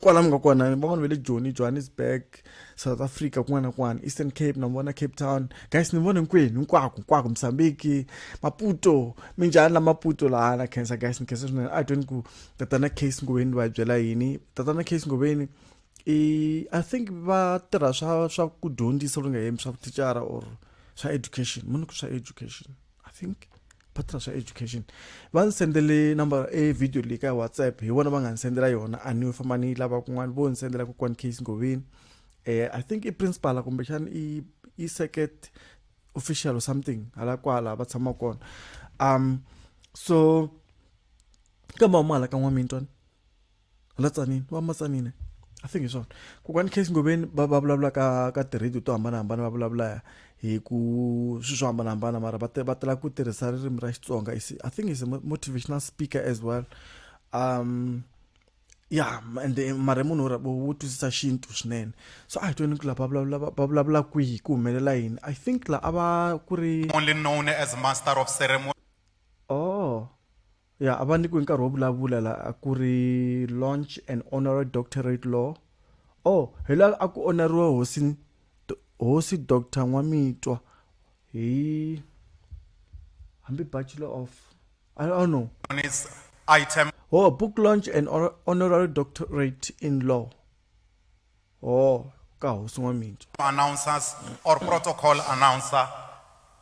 kwala mi nga kona ni van'wana va le joni johannesburg south africa kun'wana na kun'wana eastern cape na vona cape town guys ni vona hinkwenu hinkwako hinkwako msambiki maputo minjhani la maputo laha na khensa guys ni khensa swinene a twini ku tatana case ngoveni va byela yini tatana case ngoveni i i think va tirha swa swa ku dyondzisa loku nga yemi swa vuthicara or swa education muni ku swa education i think va tirha swa education va ndzi sendele number e video leyi ka whatsapp hi vona va nga ndzi sendela yona a ni famba ni yi lava kun'wana vo ndzi sendela kokwani case ngoveni um i think i principal kumbexana i i circuit official or something hala kwala va tshama kona um so kambe huma hala ka n'wamintwana la tsanini va matsanini i think hi swona kokwani case ngobeni va va vulavula ka ka ti-radio to hambanahambana va vulavula hi ku swilo swo hambanahambana mara va va tala ku tirhisa ririmi ra xitsonga i think is a motivational speaker as well um ya and mara i munhu wo twisisa xintu swinene so a hi tweni ku la va vulavula va vulavula kwihi ku humelela yini i think la a va ku ri only known as master of ceremony oh Ya, a va nyikiwe nkarhi wo vulavula la a ku ri launch and honorary doctorate law. Oh, hi la a ku onariwe hosi Do- hosi Doctor N'wamitwa hi hambi Bachelor of I don't know. on its item Oh, book launch and honor- honorary doctorate in law. or ka hosiwa mintswa announcers or protocol announcer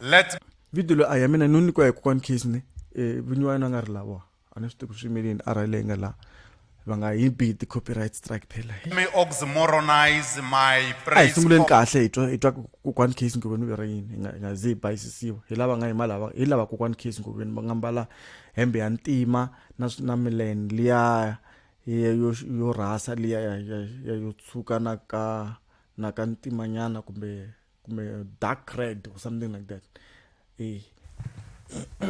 let video lo a ya mina no nyikiwa hi kokwana case ne eh, vinyi wa yena a nga ri lava a ni swi tivi ku swi yimele yini a rhayile yi nga laha va nga yi bi ti-copyright strike phela hi me oxymoronize my a hi praise sunguleni for- kahle hi twa hi twa ku kokwana case ngoveni u vira yini hi nga- hi nga ze hi bayisisiwa hi lava nga yima lava hi lava kokwana case ngoveni va nga mbala hembe ya ntima na swi- na mileni liya ya yo yo rhasa liya ya ya ya yo tshuka na ka na ka ntimanyana kumbe kumbe dark red or something like that eh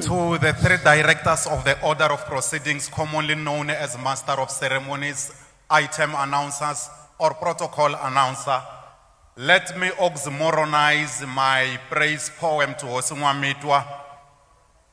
to the three directors of the order of proceedings commonly known as master of ceremonies item announcers or protocol announcer let me oxymoronize my praise poem to Hosi Nwamitwa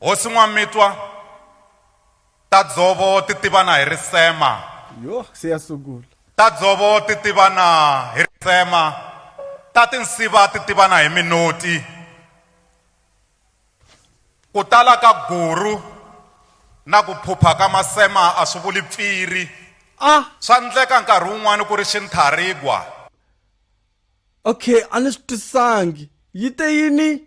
Hosi N'wamitwa ta dzovo ti tivana hi risema. Yoh se ya sungula. Ta dzovo ti tivana hi risema, ta tinsiva ti tivana hi minoti. Ku tala ka guru na ku phupha ka masema a swi vuli pfiri. Ah! Swa ndleka nkarhi wun'wana ku ri xintharigwa. Okay, a ni swi twisisangi. Yi te yini?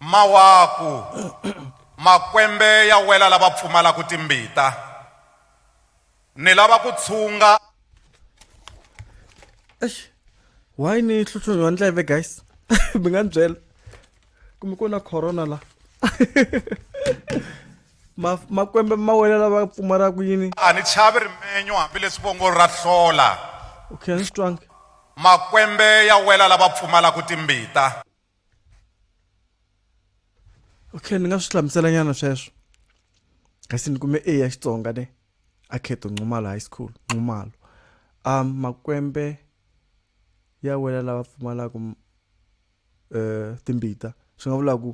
Mawaku, makwembe ya wela lava pfumalaku timbita, ni lava ku tshunga. Eish, why ni hlutlhunyiwa ndleve guys? Mi nga ni byela kumbe ku na corona la Ma- makwembe ma wena lava pfumalaka yini A ni chavi rimenyo hambileswi vongo ra hlola. okay a ni swi twanga Makwembe ya wela lava pfumalaku timbita. okay ni nga swi hlamuselanyana sweswo kasi ni kume a ya xitsonga ne akheto nxumalo high school nxumalo um makwembe ya wela lava pfumalaka um eh, timbita swi nga vula ku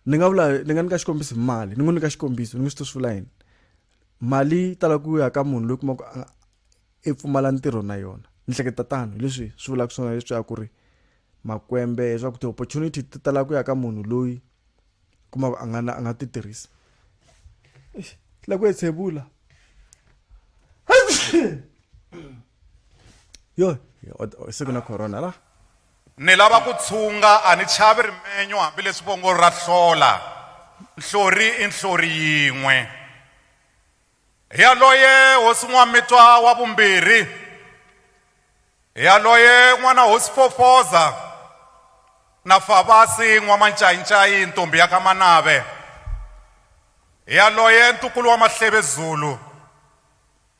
ni nga vula ni nga nyika xikombiso hi mali ni n'wi nyika xikombiso ni n'wi swi to swi vula yini mali yi tala ku ya ka munhu loyi kuma ku i pfumala ntirho na yona ni hleketa tano hileswi swi vulaka swona leswi ya ku ri makwembe leswaku ti-opportunity ti tala ku ya ka munhu loyi kuma ku a nga na a nga ti tirhisa la ku etshevula yo se ku na corona la Ni lava ku tshunga, a ni chavi rimenyo hambi leswi vongo ra hlola, nhlori i nhlori yin'we. Hi yaloye hosi N'wamitwa wa vumbirhi, hi yaloye n'wana hosi Fofoza na Favasi N'wamancayincayi ntombhi ya ka Manave, hi yaloye ntukulu wa Mahleve Zulu,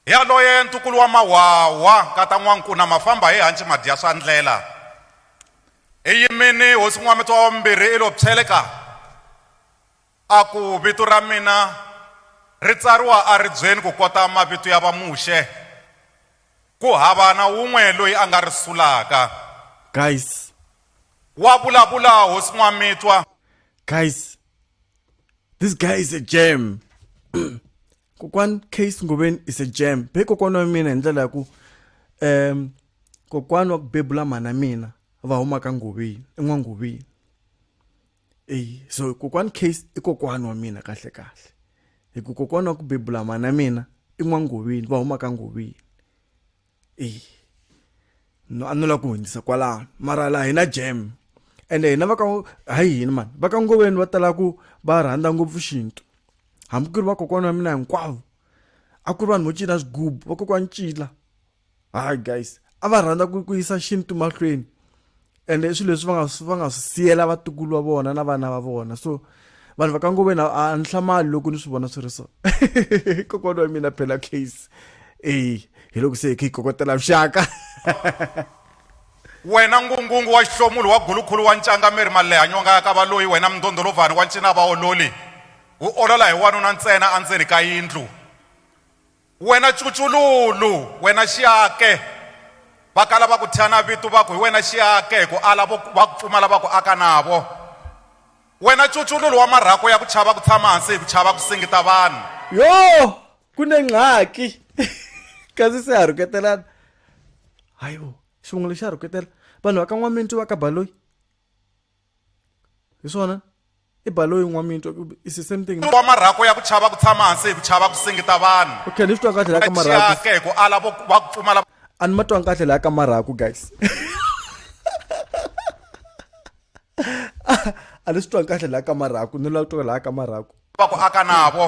Yaloye ntukulu wa Mahwahwa, nkata N'wankuna Mafamba hi hanci Madyaswandlela, i yimini hosi N'wamitwa wa vumbirhi i lo phyeleka, a ku, Vito ra mina ri tsariwa eribyeni ku kota mavito ya Vamuxe, ku hava na wun'we loyi a nga ri sulaka. Guys. Wa vulavula hosi N'wamitwa. Guys. This guy is a gem. kokwan case ngoveni is a jam be kokwana wa mina hi ndlela ya ku um kokwana wa ku bebula mhana mina va huma ka ngoveni en'wangoveni eyi so kokwana case i kokwana wa mina kahle kahle hi ku kokwana wa ku bebula mhana mina i n'wangoveni va huma ka ngoveni eyi no a no lava ku hundzisa kwalano mara laha hi na jam ende hina va ka hayi hina mani va ka ngoveni va tala ku va rhandza ngopfu xintu hambi ku ri vakokwana wa mina hinkwavo a ku ri vanhu vo cina swigubu vakokwana cila hayi guys a va rhandza ku ku yisa xintu mahlweni and i swilo leswi va nga va nga swi siyela vatukulu va vona na vana va vona so vanhu va ka ngoveni a ni hlamali loko ni swi vona swi ri so kokwana wa mina phela case eyi hi loko se hi kha hi kokotela vuxaka wena ngungungu wa xihlomulu wa gulukhulu wa ncangameri maleha nyonga ya ka valoyi wena mindhondholovhani wa ncina vaololi wu olola hi wanuna ntsena endzeni ka yindlu Wena cucululu, wena xiake, va kala va ku thya na vito va ku, Hi wena xiake, hi ku ala vo va ku pfumala va ku aka navo. Wena cucululu wa marhako ya ku chava ku tshama hansi hi ku chava ku singita vanhu. Yoh! Ku ne ngqaki! Kasi se ha rhuketelana. Hayibo, xivongo lexi xa rhuketela. Vanhu va ka N'wamintu va ka Baloyi. hi swona i balo yin'wana mi yi twa is the same thing wa marhako ya ku chava ku tshama hansi hi ku chava ku singita vanhu okay ni swi twa kahle laha ka marhako hi ku ala va ku pfumala a ni ma twa kahle laha ka marhako guys a ni swi twa kahle laha ka marhako ni la twa laha ka marhako va ku aka navo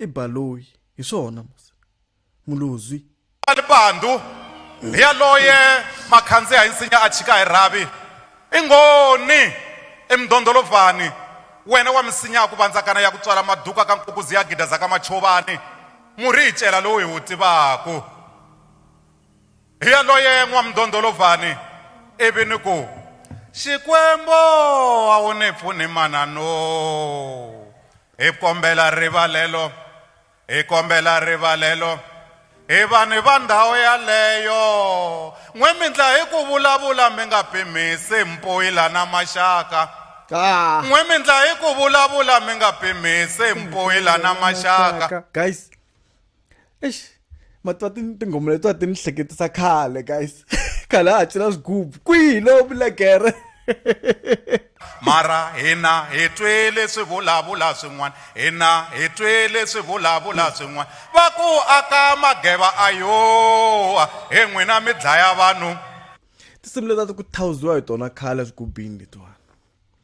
I Baloyi. Hi swona, musa. Mulozwi. Lipandu, hi yaloye ma khandziha hi nsinya a chika hi rhavi. I ngoni! I mdondolovani, wena wa misinya ya ku vandzakana ya ku tswala maduka ka nkukuzi ya gidaza ka machovani, murhi hi cela lowu hi wu tivaku. Hi yaloye n'wamdondolovani, ivi ni ku, Xikwembo a wu ni pfuni mananoo! hi kombela rivalelo hi kombela rivalelo hi vanhu va ndhawu yaleyo n'we mi ndla hi ku vulavula mi nga pimisi mpoyila na maxaka ah. n'we mi ndla hi ku vulavula mi nga pimisi mpoyila na maxaka guys eish matwa tinghoma letiwa ti ni hleketisa khale guys khale a ha cina swigubu kwihi lowu milekere mara hina hi twile swi vulavula swin'wana hina hi twile swi vulavula swin'wana va ku aka mageva a yoa hi n'wina mi dlaya vanhu tinsimu leti a ti ku thawuziwa hi tona khale swigubini letiwani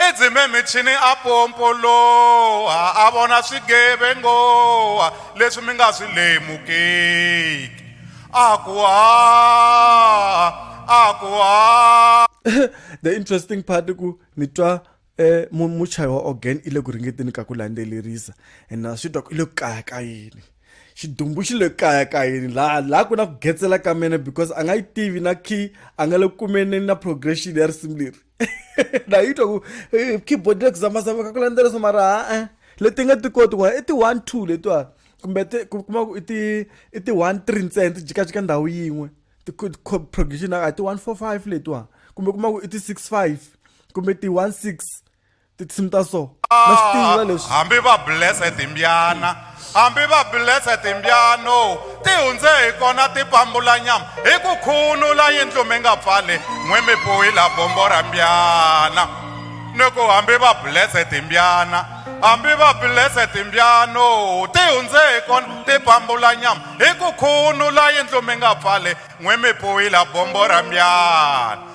Edzimemichini a pompoloha, a vona swigevengoha leswi mi nga swi lemukiki. A ku, Haa! A ku, Haa! the interesting part ku ni twa eh muchayi wa organ i le ku ringeteni ka ku landzelerisa and na swi twa ku i le ku kaya ka yini xidumbu xi le kaya ka yini laha laha ku na ku getsela ka mene because a nga yi tivi na key a nga le ku kumeni na progression ya risimu leri ndayitwa ku eh, keyboard le ku zamazama ka ku landzeleriso mara a-e eh, leti nga ti koti ku i ti-one two letiwani kumbe ti kuma ku i ti i ti-one three ntsena ti jikajika ndhawu yin'we ti-progression a ti-one four five letiwani kumbe kuma ku i ti-six five kumbe ti-one six tinsimu ta so na swi tiva leswi hambi va blese timbyana hambi va blese timbyano ti hundze hi kona ti pambula nyama hi ku khunula yindlu mi nga pfali n'we mi puhila bombo ra mbyana ni ku hambi va blese timbyana hambi va blese timbyano ti hundze hi kona ti pambula nyama hi ku khunula yindlu mi nga pfali n'we mi puhila bombo ra mbyana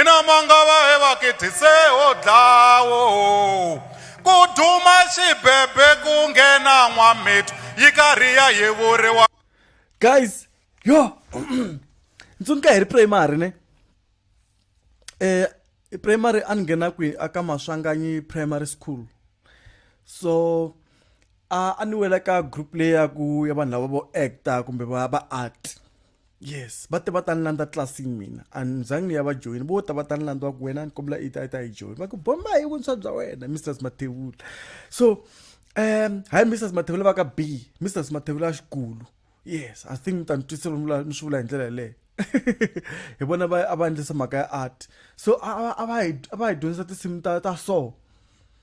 ina mangava he vakithise ho dlawo ku duma xibebe ku nghena n'wamithu yi karhi ya yevuriwa guys yo ntsundzuka hi ri primary ne eh primary a ni nghena kwi aka maswanganyi primary school so a a ni wela ka group leyi ya ku ya vanhu lava vo actor kumbe va va art yes va te va ta ni landza tlilasini mina a ni zangi ni ya va joyini vo ta va ta ni landza ku wena ni kombela i ta i ta yi joyini va ku bomba hi vuntshwa bya wena mrs mathevula so um hayi mrs mathevula va ka b mrs mathevula xikulu yes i think ni ta ni twisisa lomu ni swi vula hi ndlela yeleyo hi vona va a va endlisa mhaka ya art so a va a va hi dyondzisa tinsimu ta ta so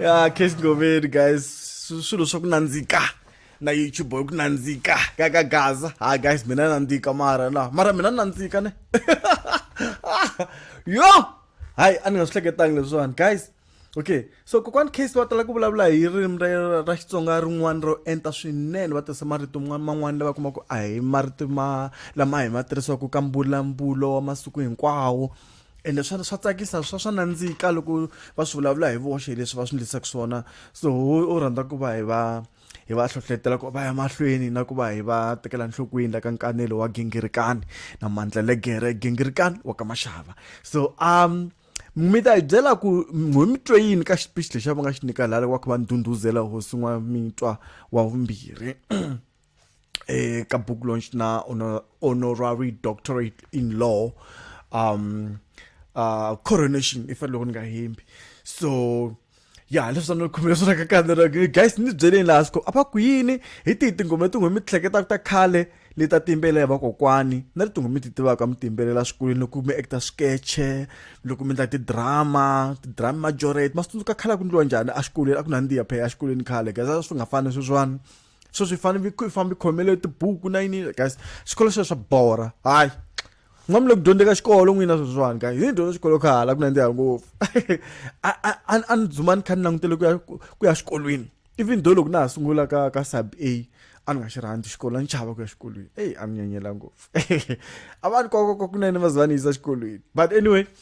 ya case goveri guys swilo swa ku nandzika na youtube boy ku nandzika ka ka gaza ha guys mina nandzika mara la mara mina nandzika ne yo hayi a ni nga swi hleketangi leswiwani guys okay so kokwani case va tala ku vulavula hi ririmi ra ra xitsonga rin'wana ro enta swinene va tirhisa marito man'wana lava kuma ku a hi marito ma lama hi ma tirhisaka ka mbulambulo wa masiku hinkwawo ende swa swa tsakisa swa swa nandzika loko va swi vulavula hi voxe hi leswi va swi ndlisaka swona so u rhandza ku va hi va hi va hlohletela ku va ya mahlweni na ku va hi va tekela nhlokweni la ka nkanelo wa gingirikani na mandla legere gingirikani wa ka maxava so um mi ta hi byela ku ho mi twe yini ka xipixi lexi a va nga xi nyika lala wa ku va ndhundhuzela hosi n'wa mitwa wa vumbirhi eka book launch na honorary doctorate in law um uh coronation if loko ni nga hembi so ya leswi ni khumile swona ka kanera guys ni byeleni laha siko a va ku yini hi tihi tinghoma tinghoma mi hleketa ta khale leti ta timbelela ya vakokwani na ri tinghoma mi ti tivaka mi timbelela swikolweni loko mi actor sketche loko mi endla tidrama tidrama majority ma swi tsundzuka khale a ku ndliwa njhani exikolweni a ku nandziha phela exikolweni khale guys a swi nga fani sweswiwani so swi fane mi fambi khomele tibuku na yini guys xikolo xo swa bora hayi nga mi le ku dyondzeka xikolo n'wina sweswiwani ka hi dyondza xikolo kha hala ku nandziha ngopfu a ni dzuma ni kha ni langutele ku ya ku ya xikolweni even though loko na ha sungula ka ka sub a a ni nga xi rhandzi xikolo a ni chava ku ya xikolweni eyi a ni nyanyela ngopfu a va ni kokoko kunene va za va ni yisa xikolweni but anyway